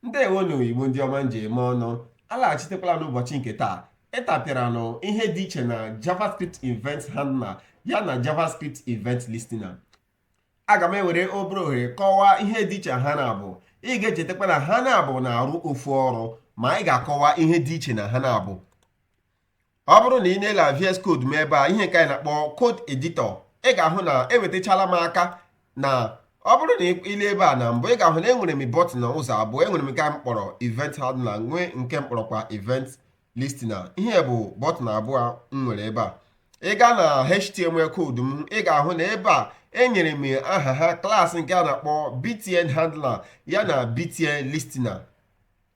ndewo nụ igbo ndị ọma m ji eme ọnụ alaghachitekwala n'ụbọchị nke taa ịtapịara nụ ihe dị iche na javascript event handler ya na javascript event listener aga m ewere obere ohere kọwaa ihe dị iche ha n'abụọ ị ga-echetakwa na ha n'abụọ na-arụ ofu ọrụ ma anyị ga-akọwa ihe dị iche na ha n'abụọ ọ bụrụ na ị na-ele VS Code m ebe a ihe nke anyị na-akpọ code editor ị ga-ahụ na enwetachala maka na ọ bụrụ na i lee ebe a na mbụ ị ga-ahụ na enwere m bọtịn ụzọ abụọ enwere m nke m kpọrọ event handler nwee nke m kpọrọkwa event listener ihe bụ bọtịn abụọ m nwere ebe a ị gaa na html code m ị ga-ahụ na ebe a enyere m aha ha class nke a na-akpọ btn handler ya na btn listener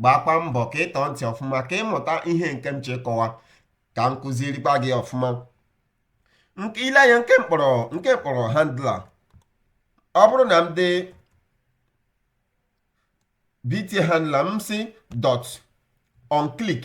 gbakwa mbọ ka ị tọọ ntị ọfụma ka ị mụta ihe nke m chọrọ ịkọwa ka m kụzirikwa gị ọfụma i lee anya nke m kpọrọ handler ọ bụrụ na m dee btn handler m sị dot on click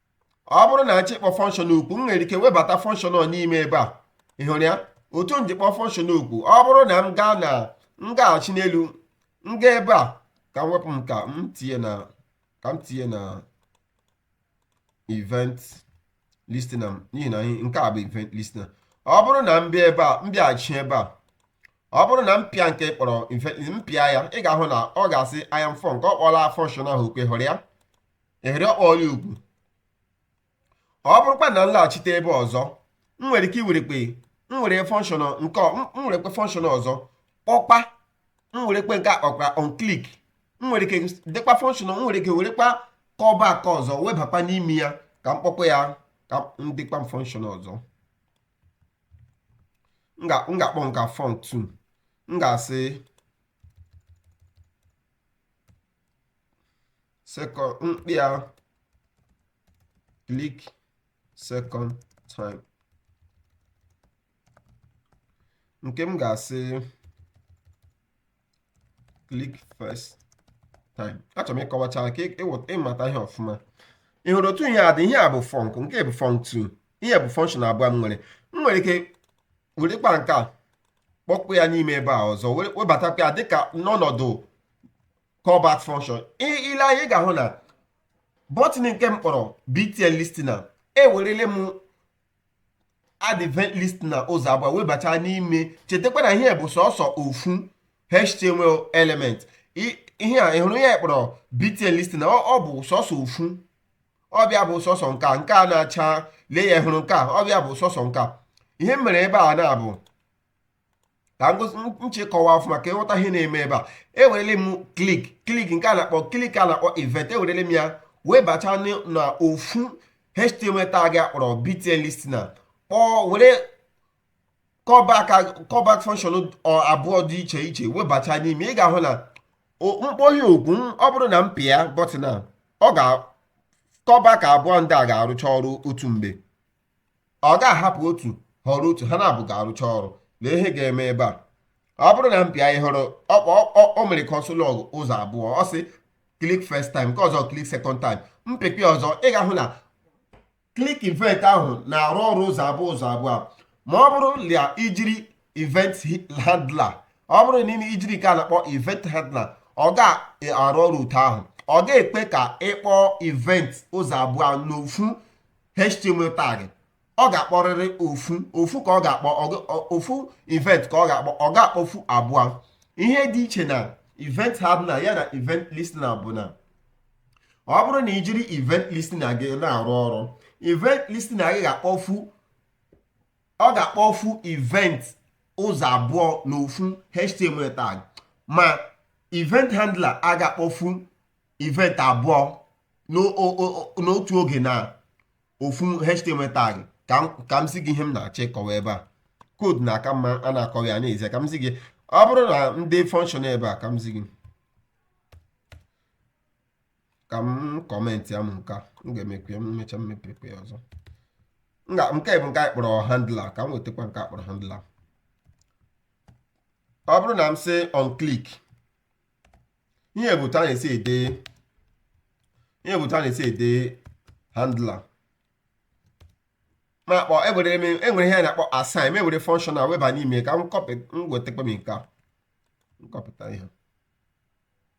ọ bụrụ na m chọọ ịkpọ function oku m nwere ike webata function ahụ n'ime ebe a ị hụrụ ya otu m ji kpọọ function oku ọ bụrụ na m gaa na m gaghachi n'elu m gaa ebe a ka m wepụ m ka m tinye na ka m tinye na event listener n'ihi na nke a bụ event listener ọ bụrụ na m bịa ebe a m bịaghachi ebe a ọ bụrụ na m pịa nke kpọrọ m pịa ya ị ga-ahụ na ọ ga-asị I am func ọ kpọọla function ahụ oku ị hụrụ ya ị hụrụ ọ kpọọla ya oku ọ bụrụkwa na m laghachite ebe ọzọ m nwere ike iwerekwa m nwere function nke m werekwa function ọzọ kpọkwa m werekwa nke a kpọkwa on click m nwere ike dekwa function m nwere ike werekwa callback ọzọ webakwa n'ime ya ka m kpọkwa ya ka m dekwa function ọzọ m ga-akpọ nke a func 2 m ga-asị second m kpọọ ya click second time nke m ga-asị click first time achọrọ m ịkọwacha ka ị mata ihe ọfụma ị hụrụ otu ihe a dị ihe a bụ func nke a bụ func 2 ihe bụ function abụọ m nwere m nwere ike werekwa nke a kpọkwuo ya n'ime ebe a ọzọ webatakwa ya dịka n'ọnọdụ callback function i lee anya ị ga-ahụ na bọtịn nke m kpọrọ btn listener ewerele m add event listener ụzọ abụọ webata n'ime chetakwa na ihe bụ sọsọ ofu html element ihe a ị hụrụ ya kpọrọ btn listener ọ bụ sọsọ ofu ọ bịa bụ sọsọ nke a nke a na-acha lee ya ị hụrụ nke a ọ bịa bụ sọsọ nke a ihe m mere ebe a na-abụ ka m chee kọwaa ọfụma ka ị ghọta ihe na-eme ebe a ewerele m click click nke a na-akpọ click a na-akpọ event ewerele m ya webata na ofu html tag a kpọrọ btn listener kpọọ were callback callback function abụọ dị iche iche webata n'ime ị ga-ahụ na m kpọọ ha oku ọ bụrụ na m pịa bọtịn a ọ ga callback abụọ ndị a ga-arụcha ọrụ otu mgbe ọ ga-ahapụ otu họrọ otu ha naabọ ga-arụcha ọrụ lee ihe ga-eme ebe a ọ bụrụ na m pịa ị hụrụ o mere console log ụzọ abụọ ọ sị click first time nke ọzọ click second time m pịkwa ọzọ ị ga-ahụ na click event ahụ na-arụ ọrụ ụzọ abụọ ụzọ abụọ ma ọ bụrụ na i jiri event handler ọ bụrụ na ime ijiri nke a na-akpọ event handler ọ ga-arụ ọrụ otu ahụ ọ ga-ekwe ka ị kpọọ event ụzọ abụọ n'ofu html tag ọ ga-akpọrịrị ofu ofu ka ọ ga-akpọ ofu event ka ọ ga-akpọ ọ ga-akpọfu abụọ ihe dị iche na event handler ya na event listener bụ na ọ bụrụ na i jiri event listener gị na-arụ ọrụ event listener gị ga-akpọfu ọ ga-akpọfu event ụzọ abụọ na ofu html tag ma event handler a ga-akpọfu event abụọ n'otu oge na ofu html tag ka m zi gị ihe m na-achọ ịkọwa ebe a koodu na-aka mma a na-akọwa ya na-ezi ka m zi gị ọ bụrụ na m dee function ebe a ka m zi gị ka m comment ya m nke a m ga-emekwa ya m mechaa m mepekwa ya ọzọ M ga- nke bụ nke anyị kpọrọ handler ka m wetakwa nke a kpọrọ handler ọ bụrụ na m sị on click ihe bụ otu a na-esi ede ihe bụ otu a na-esi ede handler m akpọ ewere m ewere ihe a na-akpọ assign m ewere function a weba n'ime ka m kọpị m wetakwa m nke a m kọpịta ihe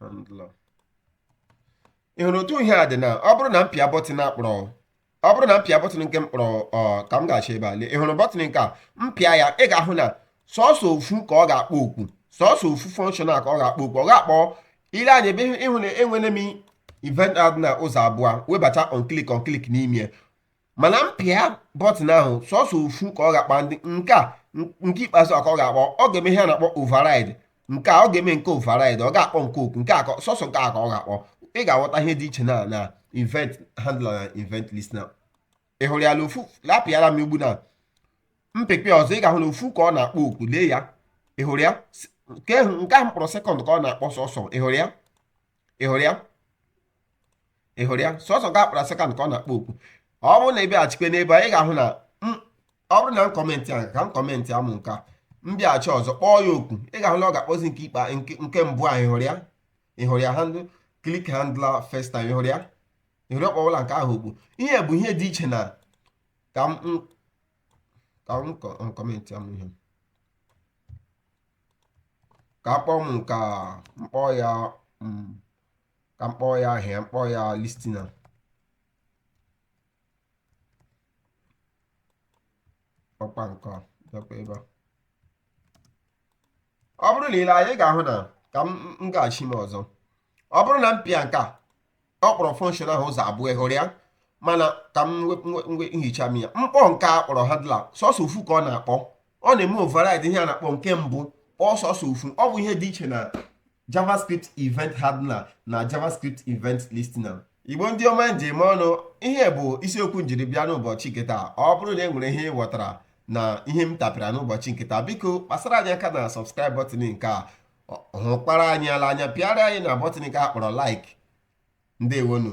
handler ị hụrụ otu ihe a dị na ọ bụrụ na m pịa bọtịn a kpọrọ ọ bụrụ na m pịa bọtịn nke m kpọrọ ọ ka m gaa chọọ ebe a lee ị hụrụ bọtịn nke a m pịa ya ị ga-ahụ na sọsọ ofu ka ọ ga-akpọ oku sọsọ ofu function a ka ọ ga-akpọ oku ọ ga-akpọ i lee anya ebe a ị hụ na ewere m event handler ụzọ abụọ webata on click on click n'ime ya mana m pịa bọtịn ahụ sọsọ ofu ka ọ ga-akpọ ndị nke a nke ikpeazụ a ka ọ ga-akpọ ọ ga-eme ihe a na-akpọ override nke a ọ ga-eme nke a override ọ ga-akpọ nke a oku nke a sọsọ nke a ka ọ ga-akpọ ị ga-aghọta ihe dị iche na na event handler na event listener ị hụrụ ya na ofu apịala m ugbu a m pịkwa ọzọ ị ga-ahụ na ofu ka ọ na-akpọ oku lee ya ị hụrụ ya nke ahụ m kpọrọ second ka ọ na-akpọ sọsọ ị hụrụ ya ị hụrụ ya ị hụrụ ya sọsọ nke a kpọrọ second ka ọ na-akpọ oku ọ bụrụ na ị bịaghachikwe n'ebe a ị ga-ahụ na ọ bụrụ na m kọmentị ahụ ka m kọmentịa mụ nke a m bịaghachi ọzọ kpọọ ya oku ị ga-ahụ na ọ ga-akpọzi nke ikpe nke mbụ ahụ ị hụrụ ya ị hụrụ ya hand click handler first time ị hụrụ ya ị hụrụ ya ọ kpọwụla nke ahụ oku ihe bụ ihe dị iche na ka m ka m kọmentịa mụ ihe ka akpọ m ka m kpọọ ya mm, ka m kpọọ ya ihe a m kpọọ ya listener ọ kpọọ nke a bịakwa ebe a ọ bụrụ na i lee anya ị ga-ahụ na ka m m gaghachi m ọzọ ọ bụrụ na m pịa nke a ọ kpọrọ function ahụ ụzọ abụọ ị hụrụ ya mana ka m hichaa m ya m kpọọ nke a kpọrọ handler sọsọ ofu ka ọ na-akpọ ọ na-eme override ihe a na-akpọ nke mbụ kpọọ sọsọ ofu ọ bụ ihe dị iche na javascript event handler na javascript event listener igbo ndị ọma m ji eme ọnụ ihe bụ isiokwu m jiri bịa n'ụbọchị nke taa ọ bụrụ na e nwere ihe ị ghọtara na ihe m tapịara n'ụbọchị nke taa biko kpasara anyị aka na subscribe button nke a hụkwara anyị ala anya pịara anyị na button nke a kpọrọ like ndewonu